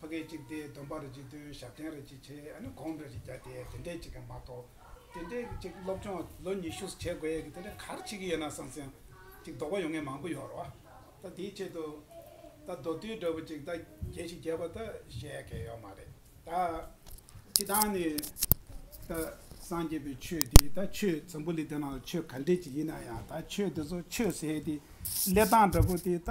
ཕ་སྐད་ཅིག་སྟེ་སྡོམ་པ་རེ་གཅིག་དོན་ཞབས་བརྟན་རེ་གཅིག་བྱེད་ཨ་ནི་གོང་འཕེལ་གྱི་རྒྱ་དེ་འདི་འདྲའི་གཅིག་གི་མ་གཏོགས་འདི་འདྲའི་གཅིག་སློབ་སྦྱོང་ལོ་ཉི་ཤུ་བྱེད་དགོས་ཡས་ཀྱི་འདི་འདྲ་གར་བྱེད་ཀྱི་ཡོད་ན་སང་སེང་ཅིག་ལྡོག་པ་ཡོང་ངེས་མང་པོ་ཡོད་རོ། ད་དེའི་ཆེད་དུ་ད་མདོ་སྟོད་འདྲ་བོ་ཅིག་ད་རྒྱལ་ཞིག་རྒྱལ་བ་ད་བཞད་གས་ཡོད་མ་རེད་ད། ཅི་ད་ནི་ད་སངས་རྒྱས་པའི་ཆོས་དེ་ད་ཆོས་འཛམ་བུ་ལི་དེ་ནང་ཆོས་ག་འདྲའི་ཅིག་ཡིན་ན་ཡང་ད་ཆོས་དེ་ཚོ་ཆོས་ཟེར་དེ་གླེ་སྟངས་འདྲ་བོ་དེ་ད་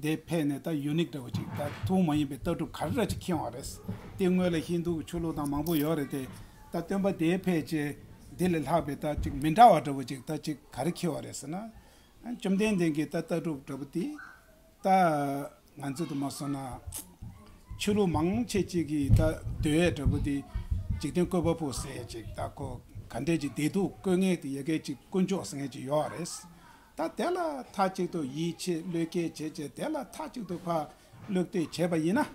འདས་ཕེབས་ནས་ད་ཡུ་ནིག་འདྲ་བོ་ཅིག་ད་དུང་མ་ཡིན་པའི་ལྟ་གྲུབ་ག་རེ་ར་ཅིག་ཁེངས་བ་རེད། དེ་སྔོན་ལ་ཧིན་རྡུ་གི་ཆོས་ལུགས་དང་མང་པོ་ཡོད་རེད་དེ། ད་སྟོན་པ་འདས་ཕེབས་ཀྱིས་འདི་ལས་ལྷག་པའི་ད་ཅིག་མི་འདྲ་བ་འདྲ་བོ་ཅིག་ད་ཅིག་ག་རེ་ཁེལ་བ་རེད་ཟེར་ན། བཅོམ་ལྡན་འདས་ཀྱི་ད་ལྟ་གྲུབ་འདྲ་བོ་དེ། ད་ང་ཚོས་དུ་མ་སོང་ན། ཆོས་ལུགས་མང་ཆེ་ཅིག་གིས་ད་འདོད་ཡས་འདྲ་བོ་དེ། འཇིག་རྟེན་བཀོད་པ་པོ་ཟེར་ཡས་ཅིག་ད་ཁོ་ག་འདྲས་ཀྱི་བདེ་སྡུག་བཀོད་ངེས་དེ་ཡས་གས་ཅིག་དཀོན་མཆོག་ཟེར་ངེས་ཅིག་ཡོད་རེད། ད་དེ་ལ་མཐའ་གཅིག་ཏུ་ཡིད་ཆེས་བློས་སྐྱེལ་བྱེད་ཅེས་དེ་ལ་མཐའ་གཅིག་ཏུ་བག་ལེབ་བསྟོད་བྱེད་པ་ཡིན་ན།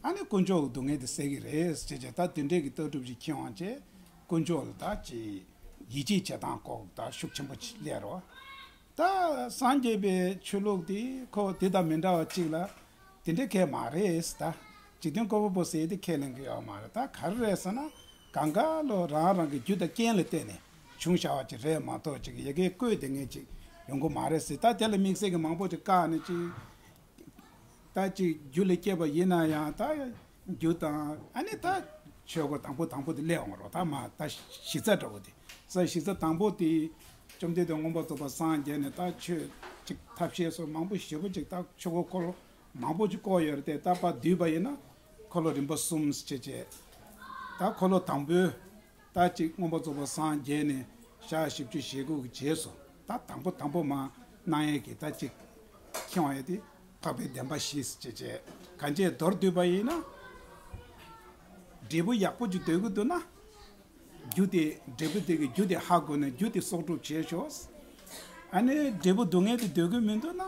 ཨ་ནི་དཀོན་མཆོག་གི་སྡུག་བསྔལ་དེ་སེལ་གྱི་རེད་ཅེས་བྱས་ད་དུས་འབྲེལ་གྱི་ལྟ་གྲུབ་ཅིག་ཁྱེར་འོང་ཅེས་དཀོན་མཆོག་ལ་ད་ཅེས་ཡིད་ཆེས་བྱེད་སྟངས་སྐོར་ད་ཤུགས་ཆེན་པོ་སླེབས་རོགས། ད་སངས་རྒྱས་པའི་ཆོས་ལུགས་དེ་ཁོ་དེ་དང་མི་འདྲ་བ་གཅིག་ལ་དེ་འདྲའི་ཁེག་མ་རེད་ད། འཇིག་རྟེན་དཀོན་པོ་པོ་ཟེར་དེ་ཁས་ལེན་གྱི་ཡོད་མ་རེད་ད་ག་རེ་རེད་ཟེར་ན་གང་ག་ལོ་རང་རང་གི་རྒྱུ་དང་རྐྱེན་ལ་བལྟས་ནས་བྱུང་བྱ་བ་ཅིག་རེད་མ་གཏོགས་ཅིག་ཡི་གེ་བཀོད་དེ་ངེས་ཅིག་ཡོང་གི་མ་རེད་སྲིད་ད་དེ་ལ་དམིགས་བསལ་གྱི་མང་པོ་ཅིག་བཀག་ནས་ཅིག་ད་ཅིག་རྒྱུ་ལས་སྐྱེས་པ་ཡིན་ན་ཡང་ད་རྒྱུ་དང་ཨ་ནི་ད་ཆོས་སྒོ་དང་པོ་དང་པོ་དེ་གླེང་འོང་རོགས་ད་མ་ད་གཞི་རྩ་འདྲ་བོ་དེ་ས་གཞི་རྩ་དང་པོ་དེ་བཅོམ་ལྡན་འདས་མགོན་པོ་རྫོགས་པ་སངས་རྒྱས་ནས་ད་ཆོས་ཅིག་ཐབས་ཤེས་སོགས་མང་པོ་བཞི་པོ་ཅིག་ད་ཆོས་སྒོ་འཁོར་ལོ་མང་པོ་ཅིག་བསྐོར་ཡོད་རེད་དེ་ད་བར་བསྡུས་པ་ཡིན་ན་འཁོར་ལོ་རིམ་པ་གསུམ་བྱེད་ཅེས་ད་འཁོར་ལོ་དང་པོའི། ལྟ་ཅིག་སྔོན་པོ་རྫོགས་པ་སངས་རྒྱས་ནས་ཞག་བཞི་བཅུ་ཞེ་དགུ་གི་རྗེས་སུ་ད་དང་པོ་དང་པོ་མ་སྣང་ཡས་ཀྱི་ལྟ་ཅིག་ཁེང་བ་ཡོད་དེ། འཕགས་པའི་བདེན་པ་བཞི་སྤྱད་ཅེས་གང་ཅིའི་མདོར་བསྡུས་པ་ཡིན་ན། འབྲས་བུ་ཡག་པོ་ཅིག་འདོད་ཀྱི་འདུག་ན། རྒྱུ་དེ་འབྲས་བུ་དེ་གི་རྒྱུ་དེ་ཧ་གོ་ནས་རྒྱུ་དེ་གསོག་སྒྲུབ་བྱས་ཞོག། ཨ་ནི་འབྲས་བུ་སྡུག་བསྔལ་དེ་འདོད་ཀྱི་མི་འདུག་ན།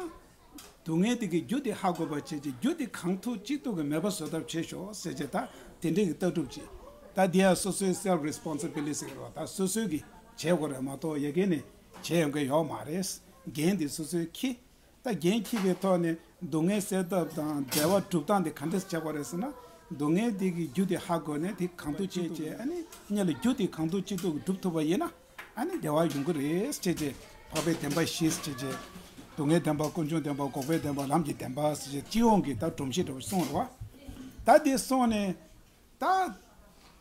སྡུག་བསྔལ་དེ་གི་རྒྱུ་དེ་ཧ་གོ་བར་བྱེད་ཅིང་རྒྱུ་དེ་གང་ཐུག་གཅིག་ཐུག་གི་མོས་པ་བཟོ་ཐབས་བྱེད་ཞོག་ཟེར་བྱེད་དང་དེ་འདྲའི་གི་ལྟ་གྲུབ་ཅིག་ད་འདི་ཡང་སོ་སོའི self responsibility ཟེར་བ་དང་སོ་སོའི་གི་བྱས་དགོས་རེད་མ་གཏོགས་ཡ་གི་ནས་བྱས་ཡོང་གི་ཡོག་མ་རེད། འགན་དེ་སོ་སོའི་ཁི། ད་འགན་ཁི་པའི་ཐོག་ནས་སྡུག་བསྔལ་སེལ་ཐབས་དང་བདེ་བ་གྲུབ་སྟངས་དེ་ག་འདྲས་བྱས་དགོས་རེད་ཟེར་ན། སྡུག་བསྔལ་དེ་གི་རྒྱུ་དེ་ཧ་གོ་ནས་དེ་གང་ཐུག་བྱེད་བྱེད་ཨ་ནི་གཉིས་ལ་རྒྱུ་དེ་གང་ཐུག་གཅིག་ཐུག་གི་གྲུབ་ཐུབ་པ་ཡིན་ན། ཨ་ནི་བདེ་བ་ཡོང་གི་རེད་ཅེས་བྱས། འཕགས་པའི་བདེན་པ་ཞེས་བྱས། སྡུག་བསྔལ་བདེན་པ་ཀུན་འབྱུང་བདེན་པ་འགོག་པའི་བདེན་པ་ལམ་གྱི་བདེན་པ་ཞེས་བྱས་སྤྱི་ཡོངས་ཀྱི་ད་སྒྲོམ་གཞི་འདྲ་བོ་སོང་རོགས། ད་འདི་སོང་ནས། ད།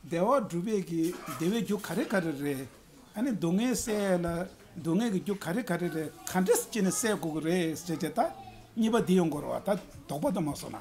བདེ་བ་སྒྲུབ་པའི་གི་བདེ་བའི་རྒྱུ་ག་རེ་ག་རེ་རེད། ཨ་ནི་སྡུག་བསྔལ་སེལ་ལ་སྡུག་བསྔལ་གྱི་རྒྱུ་ག་རེ་ག་རེ་རེད་ག་འདྲས་ཀྱིས་ནི་སེལ་དགོས་ཀྱི་རེད་ཅེས་བྱས། ད་གཉིས་པ་འདི་ཡོང་དགོས་རོགས། ད་དོགས་པ་དུ་མ་སོང་ན།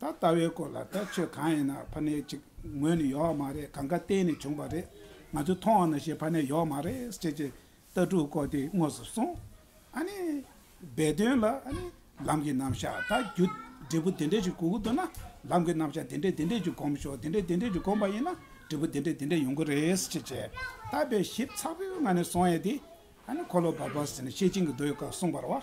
ད་ལྟ་བའི་སྐོར་ལ་ལྟ་ཆོས་གང་ཡིན་ན་ཕ་ནས་ཅིག་ངོས་ནས་ཡོག་མ་རེད་གང་ག་བརྟེན་ནས་བྱུང་བ་རེད་ང་ཚོས་མཐོང་བ་ན་ཞེས་ཕ་ནས་ཡོག་མ་རེད་ཅེས་ཀྱི་ལྟ་གྲུབ་བཀོལ་ཏེ་དངོས་སུ་སོང་ཨ་ནི་སྦས་དོན་ལ་ཨ་ནི་ལམ་གྱི་རྣམ་གཞག་ད་རྒྱུ་འབྲས་བུ་དེ་འདྲས་ཞིག་གོ་གི་འདུག་ན་ལམ་གྱི་རྣམ་གཞག་དེ་འདྲས་དེ་འདྲས་ཀྱིས་གོམས་ཞོག་དེ་འདྲས་དེ་འདྲས་ཀྱིས་གོམས་པ་ཡིན་ན་འབྲས་བུ་དེ་འདྲས་དེ་འདྲས་ཡོང་གི་རེད་ཅེས་ཀྱི་ལྟ་བའི་ཞིབ་ཚགས་པོའི་ངང་ནས་སོང་ཡས་དེ་ཨ་ནི་འཁོར་ལོ་བར་བར་ཟིན་ནས་ཤེས་ཀྱིན་གྱི་འདུག་ཡོད་སྐབས་གསུངས་པར་བ།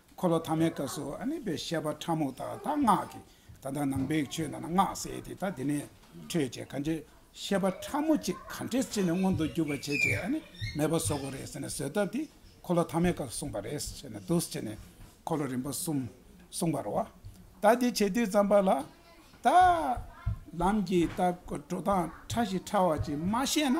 འཁོར་ལོ་ཐ་མའི་སྐབས་སུ་ཨ་ནི་པའི་ཤེས་པ་ཕྲ་མོ་དག་ད་སྔགས་ཀྱི་ད་ད་ནང་པའི་ཆོས་རྣམས་ལ་སྔགས་བསལ་ཏེ་ད་དེ་ནས་འཕྲོས་བྱས་ག་འདྲེ་ཤེས་པ་ཕྲ་མོ་གཅིག་ག་འདྲེ་སྤྱི་ནས་མངོན་དུ་གྱུར་པ་བྱེད་ཅེས་ཨ་ནི་མེད་པ་བཟོ་དགོས་རེད་ཟེར་ནས་བཟོད་ཐབས་དེ་འཁོར་ལོ་ཐ་མའི་སྐབས་སུ་གསུངས་པ་རེད་ཟེར་ནས་འདུག་བྱས་ནས་འཁོར་ལོ་རིམ་པ་གསུམ་གསུངས་པར་བ་ད་དེ་བྱེད་དུས་བརྩམས་པ་ལ་ད། ལམ་གྱི་ད་འགྲོ་སྟངས་ཕྲ་ཞིང་ཕྲ་བ་ཅིག་མ་ཤེས་ན།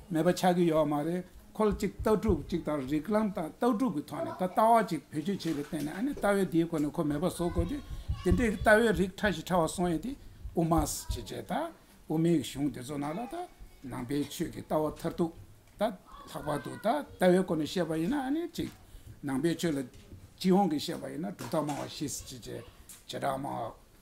མེད་པ་ཆགས་ཀྱི་ཡོད་མ་རེད། ཁོ་ལ་ཅིག་ལྟ་གྲུབ་ཅིག་དང་རིགས་ལམ་དང་ལྟ་གྲུབ་ཀྱི་ཐོག་ནས་ད་ལྟ་བ་ཅིག་བེད་སྤྱོད་བྱས་པའི་སྟེང་ནས་ཨ་ནེ་ལྟ་བའི་དེའི་ཁོ་ནས་ཁོ་མེད་པ་བཟོ་དགོས་རྗེས་དེ་འདྲའི་ལྟ་བའི་རིགས་ཕྲ་ཞིག་ཕྲ་བ་སོང་ཡས་དེ་དབུ་མའས་བྱས་བྱས་ད་དབུ་མའི་གཞུང་དེ་ཚོ་ནང་ལ་ད་ནང་པའི་ཆོས་ཀྱི་ལྟ་བ་མཐར་ཐུག་ད་ལྷག་པར་དུ་ད་ལྟ་བའི་ཁོ་ནས་བཤད་པ་ཡིན་ན་ཨ་ནེ་ཅིག་ནང་པའི་ཆོས་ལ་སྤྱི་ཡོངས་ཀྱི་བཤད་པ་ཡིན་ན་གྲུབ་རྟགས་མང་བ་ཤེས་བྱེད་ཆེ་གྲགས་མང་བ་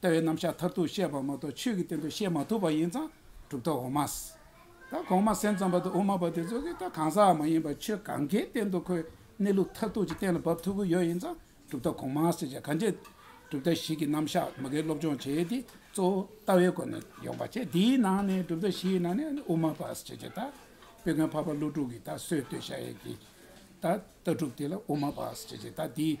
ལྟ་བའི་རྣམ་གཞག་མཐར་ཐུག་བཤད་པ་མ་གཏོགས་ཆོས་ཀྱི་སྟེང་དུ་བཤད་མ་ཐུབ་པ་ཡིན་ཙང་གྲུབ་མཐའ་འོག་མ། ད་གོང་མ་སེམས་ཙམ་པ་དང་དབུ་མ་པ་དེ་ཚོ་གིས་ད་གང་ཟག་མ་ཡིན་པར་ཆོས་གང་གཱའི་སྟེང་དུ་ཁོའི་གནས་ལུགས་མཐར་ཐུག་ཅིག་གཏན་ལ་འབབ་ཐུབ་ཀྱི་ཡོད་ཡིན་ཙང་གྲུབ་མཐའ་གོང་མ་ཟེར་བྱ་ག་འདྲེ། གྲུབ་མཐའ་བཞི་གི་རྣམ་གཞག་མི་དགེ་སློབ་སྦྱོང་བྱེད་ཡུལ་དེ་གཙོ་བོ་ལྟ་བའི་སྒོ་ནས་ཡོང་པ་ཆེ་དེའི་ནང་ནས་གྲུབ་མཐའ་བཞིའི་ནང་ནས་དབུ་མ་པ་ཟེར་བྱ་ད་དཔེ་མཁན་འཕགས་པ་ཀླུ་སྒྲུབ་ཀྱིས་ད་སྲོལ་བཏོད་བྱ་ཡི་གིས་ད་ལྟ་གྲུབ་དེ་ལ་དབུ་མ་པ་ཟེར་བྱ་ད་དེའི།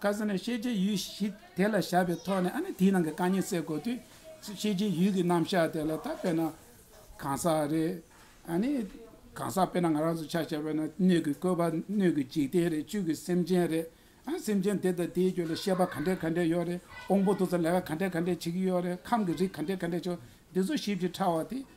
ཁ་སང་ནས་ཤེས་བྱའི་ཡུལ་ཞིག་དེ་ལ་བཞག་པའི་ཐོག་ནས་ཨ་ནི་དེའི་ནང་གི་དཀའ་ཉེན་སེལ་དགོས་དུས། ཤེས་བྱའི་ཡུལ་གྱི་རྣམ་གཞག་དེ་ལ་ད་དཔེར་ན། གང་ཟག་རེད། ཨ་ནི། གང་ཟག་དཔེར་ན་ང་རང་ཚོ་ཆ་བྱས་པ་ན་སྣོད་ཀྱི་བཀོད་པ་སྣོད་ཀྱི་འཇིག་རྟེན་རེད་བཅུད་ཀྱི་སེམས་ཅན་རེད། ཨ་སེམས་ཅན་དེ་དང་དེའི་རྒྱུད་ལ་ཤེས་པ་ག་འདྲས་ག་འདྲས་ཡོད་རེད་དབང་པོ་དེ་ཚོ་ལས་ཀ་ག་འདྲས་ག་འདྲས་བྱེད་ཀྱི་ཡོད་རེད་ཁམས་ཀྱི་རིགས་ག་འདྲས་ག་འདྲས་བྱེད་འདི་ཚོ་ཞིབ་ཀྱིས་ཕྲ་བ་དེ།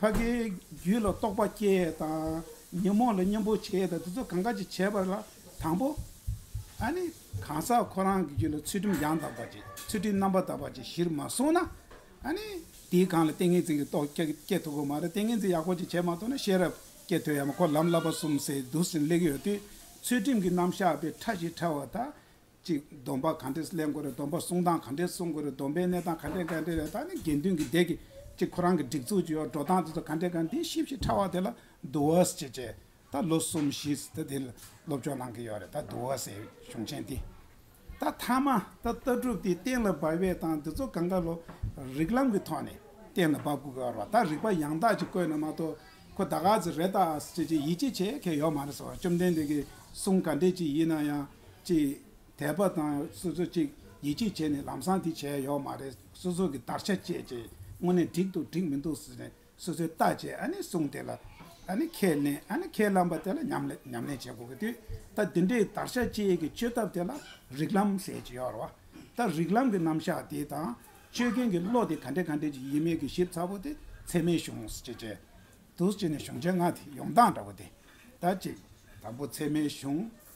བྷ་གའི་རྒྱུད་ལ་རྟོག་པ་སྐྱེས་དང། ཉོན་མོངས་ལ་གཉེན་པོ་བྱེད་དང་དེ་ཚོ་གང་གཱ་ཅི་བྱས་པ་ལ་དང་པོ། ཨ་ནི། གང་ཟག་ཁོ་རང་གི་རྒྱུད་ལ་ཚུལ་ཁྲིམས་ཡང་དག་པ་ཅིག་ཚུལ་ཁྲིམས་རྣམ་པར་དག་པ་ཅིག་གཞིར་མ་བཟུང་ན། ཨ་ནི། དེའི་གང་ལ་ཏིང་ངེ་འཛིན་གྱི་རྟོག་སྐྱེ་སྐྱེ་ཐུབ་པ་མ་རེད་ཏིང་ངེ་འཛིན་ཡག་པོ་ཅིག་བྱས་མ་ཐུབ་ན་ཤེས་རབ་སྐྱེ་འདོད་ཡང་མ་ཁོ་ལམ་བསླབ་པ་གསུམ་སའི་རྡུལ་ཟིན་ལེགས་ཡོད་དུས། ཚུལ་ཁྲིམས་ཀྱི་རྣམ་གཞག་པའི་ཕྲ་ཞིང་ཕྲ་བ་དག་གཅིག། སྡོམ་པ་ག་འདྲས་ལེན་དགོས་རེད་སྡོམ་པ་གསུང་སྟངས་ག་འདྲས་གསུང་དགོས་རེད་སྡོམ་པའི་གནས་སྟངས་ག་འདྲས་ག་འདྲས་རེད་ད་ནི་དགེ་འདུན་གྱི་སྡེ་གྱི་གཅིག་ཁོ་རང་གི་སྒྲིག་འཛུགས་ཀྱི་འོག་འགྲོ་སྟངས་དེ་ཚོ་ག་འདྲས་ག་འདྲས་ཞིབ་ཞིབ་ཕྲ་བ་དེ་ལ་བསྡུ་བ་བྱས་རྗེས་ད་ལོ་གསུམ་བཞི་ད་དེ་སློབ་སྦྱོང་གནང་གི་ཡོད་རེད་ད་བསྡུ་བ་བྱས་གཞུང་ཆེན་འདི་ད་མཐའ་མ་ད་ལྟ་གྲུབ་འདི་གཏན་ལ་འབབ་བའི་སྟངས་འདི་ཚོ་གང་ག་ལོ་རིགས་ལམ་གྱི་ཐོག་ནས་གཏན་ལ་འབབ་དགོས་ཀྱི་ཡོད་རེད་ད་རིགས་པ་ཡང་དག་ཅིག་བཀོད་ན་མ་གཏོགས་ཁོ་ད་ག་ཟེ་རེད་ད་ཟེ་བྱས་རྗེས་ཡིད་ཆེས་བྱེད་མཁན་ཡོད་མ་རེད་བསམ་བ་བཅོམ་ལྡན་འདས་ཀྱི་གསུང་ག་འདྲས་ཅིག་ཡིན་ན་ཡང། ཅེས་དད་པ་དང་སོ་སོ་གཅིག་ཡིད་གཅིག་བྱས་ནས་ལམ་སང་དེ་བྱས་ཡོག་མ་རེད་སོ་སོ་གི་དར་ཆ་བཅད་ཅེས་དངོས་གནས་འགྲིག་འདུག་འགྲིག་མི་འདུག་ཟེར་ནས་སོ་སོའི་ལྟ་བྱས་ཨ་ནི་གསུངས་དེ་ལ་ཨ་ནི་ཁས་ལེན་ཨ་ནི་ཁས་ལམ་པ་དེ་ལ་ཉམས་ལེན་ཉམས་ལེན་བྱེད་དགོས་ཀྱི་དུས་ད་འདི་འདྲའི་དར་ཆ་བཅས་ཀྱི་བཅོས་ཐབས་དེ་ལ་རིགས་ལམ་ཟེར་གྱི་ཡོག་རེད་བ་ད་རིགས་ལམ་གི་རྣམ་གཞག་དེ་དང་བཅོས་མཁན་གྱི་བློ་དེ་ག་འདྲས་ག་འདྲས་ཀྱི་ཡིན་མིན་གྱི་ཞིབ་ཚགས་པོ་དེ་ཚད་མའི་གཞུང་ཞེས་བྱས་དུས་ནས་གཞུང་ཆེན་ལྔ་དེ་ཡོམ་སྟངས་འདྲ་བོ་དེ་ད་ཅིག་དང་པོ་ཚད་མའི་གཞུང།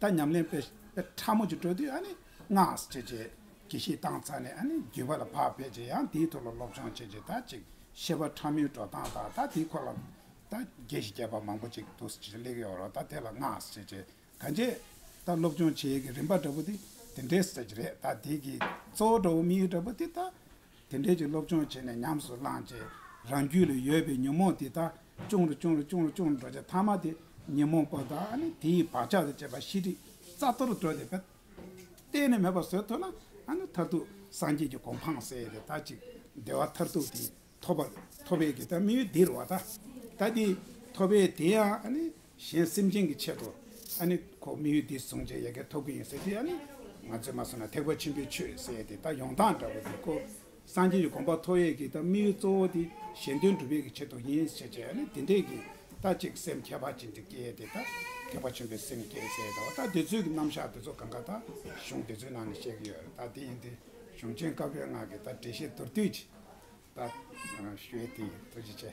ད་ཉམས་ལེན་དཔེ་ཕྲ་མོ་ཅིག་སྤྲོ་དུས་ཨ་ནི་སྔགས་ཅེས་བྱའི་གྱི་ཤིག་བཏང་ཚར་ནས་ཨ་ནི་བརྒྱུད་པ་ལ་བག་ཕེབས་ཀྱིས་ཡང་དེའི་ཐོག་ལ་སློབ་སྦྱོང་བྱེད་ཀྱི་ད་ཅིག་ཤེས་པ་ཕྲ་མོའི་འགྲོ་སྟངས་དང་ད་དེའི་ཁོག་ལ་ད་རྒྱལ་ཞིག་རྒྱལ་བ་མང་པོ་ཅིག་འདུག་ཅེས་གླེགས་ཡོད་རོགས་ད་དེ་ལ་སྔགས་ཅེས་བྱའི་ད་རྗེས་ད་སློབ་སྦྱོང་བྱེད་ཀྱི་རིམ་པ་འདྲ་པོ་དེ་དེ་འདྲའི་ཟེར་གྱི་རེད་ད་དེའི་གི་གཙོ་བོ་འདྲ་བོ་མི་ཡུལ་འདྲ་པོ་དེ་ད་དེ་འབྲེལ་གྱི་སློབ་སྦྱོང་བྱས་ནས་ཉམས་སུ་བླངས་རྗེས་རང་རྒྱུད་ལ་ཡོད་པའི་ཉོན་མོངས་དེ་དག་ཅུང་རུ་ཅུང་རུ་ཅུང་རུ་ཅུང་རུ་འགྲོ་རྗེས་མཐའ་མ་དེ་ཉིན་མོངས་པ་དང་དེའི་བག་ཆགས་དང་བཅས་པ་ཤི་ཁྲིག་རྩ་གཏོར་དུ་འགྲོ་སྟེ་བས་གཏན་ནས་མེད་པར་བཟོད་ཐུབ་ན་མཐར་ཐུག་སངས་རྒྱས་ཀྱི་གོ་འཕང་བསལ་ཏེ་ད་ཅིག་བདེ་བ་མཐར་ཐུག་དེ་ཐོབ་པར་ཐོབ་པས་ཀྱི་ད་མི་འདིར་བ་ད་ལྟའི་ཐོབ་པས་དེ་ཡང་གཞན་སེམས་ཅན་གྱི་ཆེད་དུ་ཨ་ནི་ཁོ་དམིགས་ཡུལ་འདི་བཟུང་བྱས་ཡ་གས་ཐོབ་གི་ཡིན་ཟེར་དུས་ཨ་ནི་ང་ཚོས་མ་སོང་ན་ཐེག་པ་ཆེན་པོའི་ཆོས་ཟེར་ཡས་དེ་ད་ཡོང་སྟངས་འདྲ་བོ་འདུག་གོ། སངས་རྒྱས་ཀྱི་དགོངས་པ་ཐོབ་ཡས་ཀྱི་ད་དམིགས་ཡུལ་གཙོ་བོ་དེ་གཞན་དོན་སྒྲུབ་ཡས་ཀྱི་ཆེད་དུ་ཡིན་ཟེར་བྱས་ཨ་ནི་དེ་འདྲས་ཀྱི་ད་ཅིག་སེམས་ཁྱད་པར་ཅན་དེ་སྐྱེས་ཡས་དེ་ད་ཐེག་པ་ཆེན་པོའི་སེམས་སྐྱེས་ཟེར་ཡས་ད་བ་ད་དེ་ཚོའི་གི་རྣམ་གཞག་དེ་ཚོ་གང་ག་ད་གཞུང་དེ་ཚོའི་ནང་ནས་བཤད་གི་ཡོད་རེད་ད་དེ་ཡིན་དུས་གཞུང་ཆེན་བཀའ་བརྒྱད་སྔགས་ཀྱི་ད་འགྲེལ་བཤད་མདོར་བསྡུས་ཀྱི་ད་ཞུས་ཏེ་ཐུགས་རྗེ་ཆེ།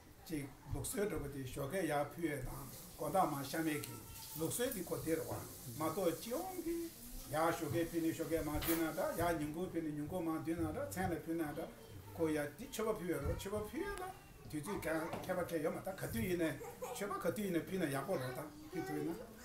ཅིག་ལུགས་སྲོལ་འགྲོ་པོ་དེ་ཞོ་ཁའི་ཡར་ཕུལ་བའི་དང་དགོང་དག་མ་ཤ་མེད་ཀྱི་ལུགས་སྲོལ་འདི་ཁོ་དེར་བར་མ་དོ་ཅི་འོང་གི། ཡར་ཞོ་ཁའི་ཕུལ་ནས་ཞོ་ཁའི་མ་བསྡུས་ན་འདྲ་ཡར་ཉུང་ཁུའི་ཕུལ་ནས་ཉུང་ཁུའི་མ་བསྡུས་ན་འདྲ་མཚན་ལ་ཕུལ་ན་འདྲ་ཁོ་ཡར་འདི་མཆོད་པ་ཕུལ་བའི་རོ་མཆོད་པ་ཕུལ་ཡོད་ལ་དུས་ཚོད་གང་ཁྱད་པར་ཁྱད་ཡོད་མ་ཐག་ག་དུས་ཡིན་ནས་མཆོད་པ་ག་དུས་ཡིན་ནས་ཕུལ་ན་ཡག་པོ་རོ་དང་ཕུལ་ཐུབ་ཡོད་ན།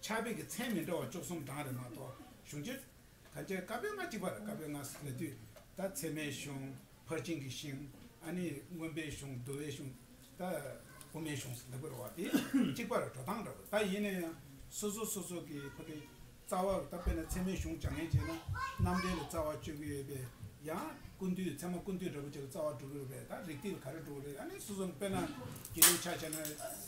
ཆ་བེད་ཀྱི་མཚན་མི་འདྲ་བ་བཅུ་གསུམ་གྲངས་རེ་མ་གཏོགས་བྱུང་ཕྱིར། གང་ཅིར་བཀའ་བོད་ལྔ་གཅིག་པར་བཀའ་བོད་ལྔ་ཟེར་བའི་དུས་ད་ཚེ་མའི་གཞུང་ཕར་ཕྱིན་གྱི་ཤིང་ཨ་ནི་མངོན་པའི་གཞུང་བསྡུ་བའི་གཞུང་ད་དབུ་མའི་གཞུང་ཟེར་འདུག་པར་བ་དེ་གཅིག་པར་འགྲོ་སྟངས་འདྲ་བོ་ད་ཡིན་ན་ཡང་སོ་སོ་སོ་སོ་གི་ཁོ་ཏའི་རྩ་བ་རུ་ད་དཔེར་ན་ཚེ་མའི་གཞུང་སྦྱང་ངན་བྱས་ན་རྣམ་འགྲེལ་ལས་རྩ་བ་གཅོད་ཀྱི་ཡོད་པས་ཡང་ཀུན་འདུས་ཚད་མ་ཀུན་འདུས་འདྲ་བོ་བྱས་པས་རྩ་བ་འགྲུབ་ཀྱི་རེད་ད་རིགས་འདི་ལ་ག་རེ་འགྲོ་གི་རེད་ཨ་ནི་སོ་སོ་དཔེར་ན་དགེ་འདུན་ཆ་བྱས་ན།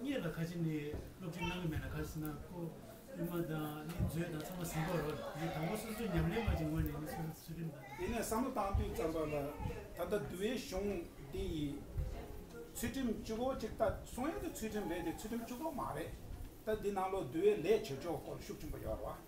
རྙེད་ལ་ཁ་ཆེ་ནི་སློབ་ཁྲིད་གནང་གི་མེད་ན་ག་སྲིད་ན་ཁོ་དབུས་མ་དང་གཉིས་མཛོད་དང་ཚང་མ་ཟིན་པར་རོ། འདི་དང་པོ་སོ་སོའི་ཉམས་ལེན་པ་ཅིག་ངོས་ནས་ནི་ཚུལ་ཁྲིམས་དང། དེ་ནས་བསམ་བློ་བཏང་དུས་བརྩམས་པ་ལ་ད་ལྟ་བསྡུ་བའི་གཞུང་འདི་ཡིས། ཚུལ་ཁྲིམས་བཅུ་གོ་གཅིག་ལྟ་གསུང་ཡང་དེ་ཚུལ་ཁྲིམས་རེད་དེ་ཚུལ་ཁྲིམས་བཅུ་གོ་མ་རེད་ལྟ་འདི་གནང་ལོ་བསྡུ་བའི་ལས་བྱེད་ཕྱོགས་སྐོར་ཤུགས་ཆེན་པོ་ཡོད་རེད་བ།